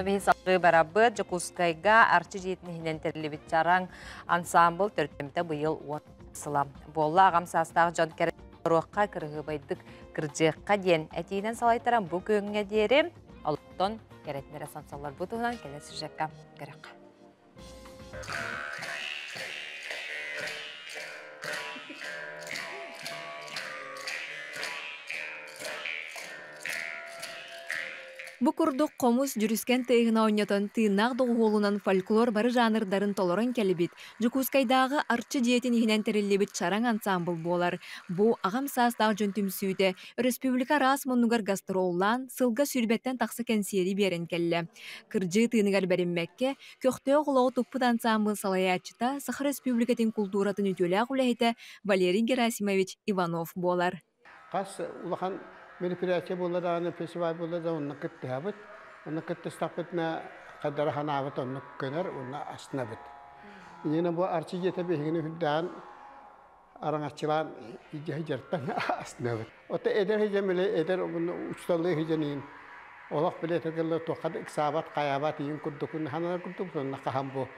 Мин салгыы барабыт Дьокуускайга Арчы дьиэтинэһинэн тэриллибит чараҥ ансаамбыл төрүттэммитэ быйыл уот сылам. Буолла аҕам саастаах дьон кэрэ торуохха кырыһыыбайдык кырдьыахха диэн этиинэн салайтаран бу күөҥҥэ диэри олоттон кэрэтинэрэ сонсоллор бу туһунан кэлэ сюжекка көрөххө. Бу курдук хомус, дьүрүскэн тыаһын оонньотон, тыыннаах доҕуһуолунан фольклор бары жанрдарын толорон кэлбит, Дьокуускайдааҕы Арчы дьиэтин иһинэн тэриллибит чараҥ ансаамбыл буолар. Бу аҕам саастаах дьон түмсүүтэ Өрөспүүбүлүкэ араас муннугар гастроллаан, сылга сүүрбэттэн тахса кэнсиэри биэрэн кэллэ. Кырдьыы тыыныгар бэриммэккэ, көхтөөх олоҕу туппут ансаамбыл салайааччыта, Саха Республикатын култууратын үтүөлээх үлэһитэ Валерий Герасимович Иванов буолар. Хас улахан мероприятие буолла даҕаны, фестиваль буолла да, онно кыттыһабыт. Онно кыттыстахпыт мэ хайдара санаабыт оннук көнөр уонна астынабыт. Иннинэ бу Арчи дьиэтэ биһигини үрдээҕин араҥаччылаан сыдьарпан астынабыт. Ото эдэр сыдьам эле эдэр учуталыы сыдьаныйын олох билете кылы туохха да ыксаабат, хайаабат иин курдукун ханана курдук сонно хаһан бу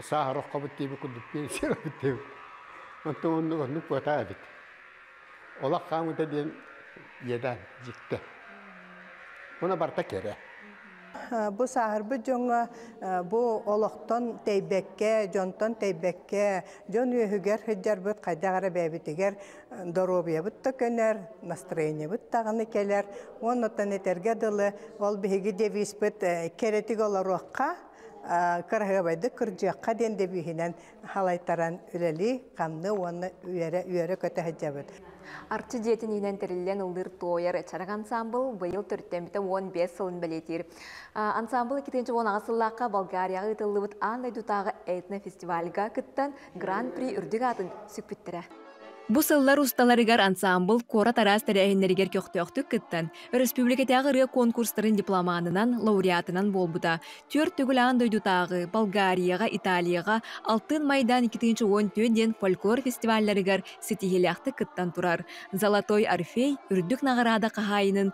сааһыроххобут диэби курдук пенсиябыт диэбит. Онтон оннук оннук куотаа эбит. Олох хаамыта диэн иэдээн дьикти. Уна барта кэрэ. Бу сааһырбыт дьоҥҥо бу олохтон тэйбэккэ, дьонтон тэйбэккэ, дьон үөһүгэр сылдьарбыт хайдах эрэ бэйэбитигэр доруобуйабыт да көнөр, настроениебыт даҕаны кэлэр. Уоннан этэргэ дылы, ол биһиги девизпыт кэрэтик олоруохха, кыраһыабайдык кырдьыахха диэн девиһинэн халайтаран үлэлии, хамныы уонна үөрэ-үөрэ көтө сылдьабыт. Арчы дьиэтин иинэн тэриллэн ыллыыр Туойар чарак ансаамбыл быйыл төрүттэммитэ уон биэс сылын бэлиэтиир. Ансаамбыл икки тыһыынча уон аҕыс сыллаахха Болгарияҕа ыытыллыбыт аан дойдутааҕы этнофестивальга кыттан Гран-при үрдүк аатын сүкпүттэрэ. Бу сыллар усталарыгар ансаамбыл куорат араас тэрээһиннэригэр көхтөөхтүк кыттан, өрөспүүбүлүкэтээҕи ырыа конкурстарын дипломанынан, лауреатынан буолбута. Түөрт төгүл аан дойдутааҕы Болгарияҕа, Италияҕа алтын майдаан 2014 диэн фольклор фестивалларыгар ситиһиилээхтик кыттан турар. Золотой Орфей үрдүк наҕараада хаһаайынын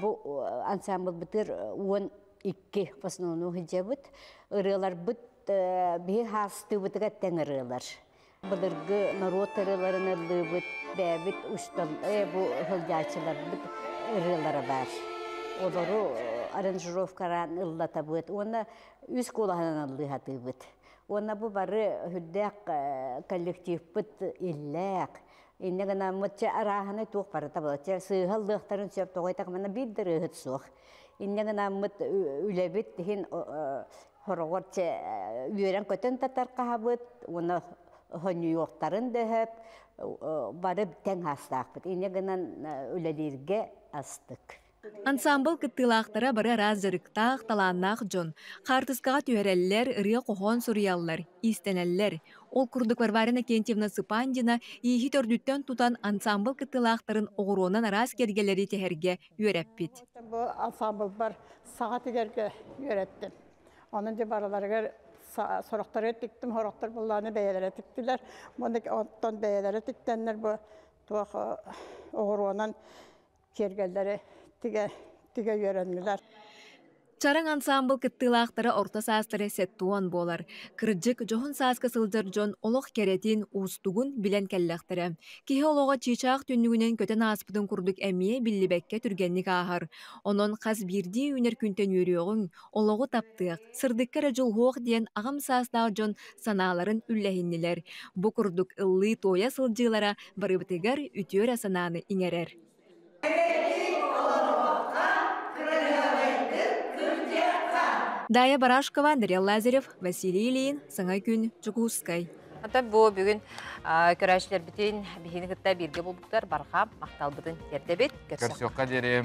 Бу ансамблбытыр уон икки в основном ыдьабыт. Ырыаларбыт биһи хаастыыбытыгар тэҥ ырыалар. Былыргы норуот ырыаларын ыллыыбыт, бэйэбит устан бу сылдьааччыларбыт ырыалара бар. Олору аранжировкараан ыллатабыт уонна үс куолаһынан ыллыһатыыбыт. Уонна бу бары үрдээх коллективпыт иллээх, Иннэ гынаммыт чэ арааһынай туох барыта буолар. Чэ сыыһаллыахтарын сөп тоҕо диэтэр манна биир да ырыаһыт суох. Иннэ гынаммыт үлэбит иһин хороҕор чэ үөрэн-көтөн да тархаһабыт уонна хонньуйуохтарын да сөп бары тэҥ аастаахпыт. Иннэ гынан үлэлииргэ астык. Ансаамбыл кыттыылаахтара бары араас дьарыктаах, талааннаах дьон. Хаартыскаҕа түһэрэллэр, ырыа-хоһоон суруйаллар, иистэнэллэр. Ол курдук Варвара Иннокентьевна Сыпандина ииһи төрдүттэн тутан ансаамбыл кыттыылаахтарын оҕуруонан араас киэргэлэри тиһэргэ үөрэппит. Бу ансаамбылбар саҕатыгарга үөрэттим. Онон дьэ барыларыгар сорохтору тиктим, сорохтор буллааны бэйэлэрэ тиктилэр. Оттон бэйэлэрэ тиктэннэр бу туох оҕуруонан киэргэллэри тигэ тигэ үөрэннилэр. Чараҥ ансаамбыл кыттыылаахтара орто саастара сэттэ уон буолар. Кырдьык, дьоһун сааска сылдьар дьон олох кэрэтин, уустугун билэн кэллэхтэрэ. Киһи олоҕо чыычаах түннүгүнэн көтөн ааспытын курдук эмиэ биллибэккэ түргэнник ааһар. Онон хас биирдии үүнэр күнтэн үөрүөҕүҥ, олоҕу таптыах, сырдыкка эрэ дьулуһуох диэн аҕам саастаах дьон санааларын үллэһиннилэр. Бу курдук ыллыы-туойа сылдьыылара барыбытыгар үтүө эрэ санааны иҥэрэр. Дая Барашкова, Дарья Лазарев, Василий Ильин, Саҥа күн, Дьокуускай. Антон бу бүгүн көрөөччүлэрбитин биһигини кытта бииргэ булбуттар барҕа махталбытын тиэрдэбит. Көрсүөххэ диэри.